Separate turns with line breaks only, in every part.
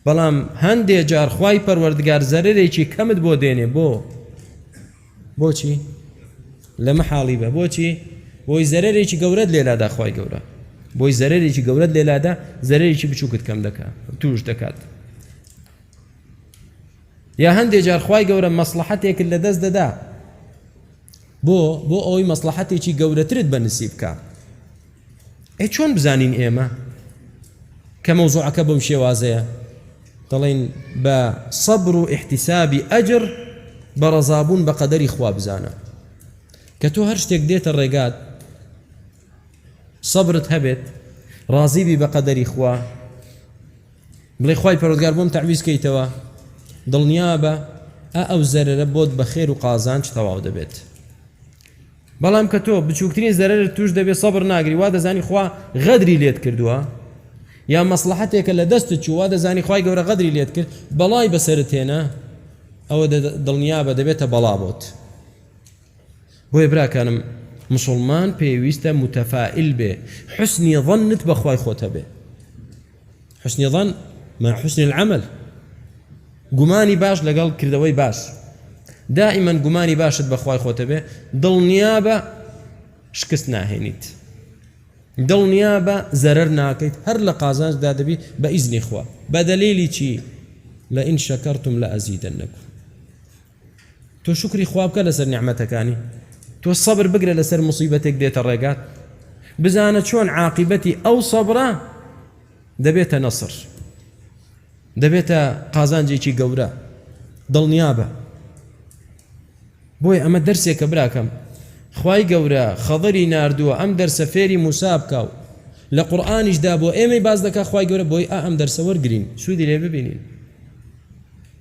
بەڵام هەندێ جار خوای پەروەردگار زەرەرێکی کەمت بۆ دێنێ بۆ بۆچی لە مەحاڵی بە بۆچی بۆی زەرەرێکی گەورەت لێلادا خوای گەورە بۆی زەرەرێکی گەورەت لێلادا زەرەرێکی بچووکت کەم دەکات توش دەکات یا هەندێ جار خوای گەورە مەسڵەحەتێکت لەدەست دەدا بۆ بۆ ئەوەی مەسڵەحەتێکی گەورەترت بە نسیب بکە ئەی چۆن بزانین ئێمە کە مەوزوعەکە بەم شێوازەیە دەڵێن بە سەبر و احتیسابی ئەجر بە ڕەزابوون بە قەدەری خوا بزانە کە تۆ هەر شتێک دێتە ڕێگات سەبرت هەبێت ڕازیبی بە قەدەری خوا بڵێ خوای پەروەردگار بۆم تەعویز کەیتەوە دڵنیابە ئە ئەو زەرەرە بۆت بە خێر و قازانج تەواو دەبێت بەڵام کە تۆ بچووکترین زەرەر توش دەبێت سەبر ناگری وا دەزانی خوا غەدری لێت کردووە یا مەسلحەتێکە لە دەست چووە دەزانی خی گەورە غەدری لێت کرد بەڵای بەسرت هێنا ئەوە دڵنیا بە دەبێتە بەڵا بۆت بۆیە براکانم مسوڵمان پێویستە متفائل بێ حسنی ظنت بەخوای خۆت هەبێ حسنی ظن مع حسن العمل گومانی باش لەگەڵ کردەوەی باش دائما گومانی باشت بەخوای خۆتە بێ دڵنیا بە شکست ناهێنیت دڵنیا بە زەرەر ناکەیت هەر لە قازانجدا دەبی بە ئیزنی خوا بە دەلیلی چی لە ئین شەکەرتم لە ئەزیدە نەکو تۆ شوکری خوا بکە لەسەر نیعمەتەکانی تۆ سەبر بگرە لەسەر مصیبەتێک دێتە ڕێگات بزانە چۆن عاقبەتی ئەو سەبرە دەبێتە نەسر دەبێتە قازانجێکی گەورە دڵنیابە بۆی ئەمە دەرسێکە براکەم خی گەورە خەڵری نردووە ئەم دەرسە فێری موسا بکە و لە قورآانیشدا بۆ ئێمەی باز دەکە خی گەورە بۆی ئا ئەم دەرسە وەرگین سوودی لێ ببینین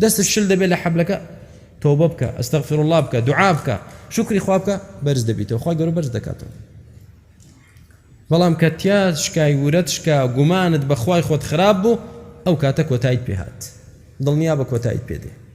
دەستت شل دەبێت لە حەبلەکە تۆبە بکە ئەستەغفر الله بکە دوعا بکە شکری خوا بکە بەرز دەبیتەوە خوا گەورە بەرز دەکاتەوە بەڵام کە تیا شکای ورەت شکا گومانت بەخوای خۆت خراپ بوو ئەو کاتە کۆتایت پێهات دڵنیا بە کۆتایت پێدێ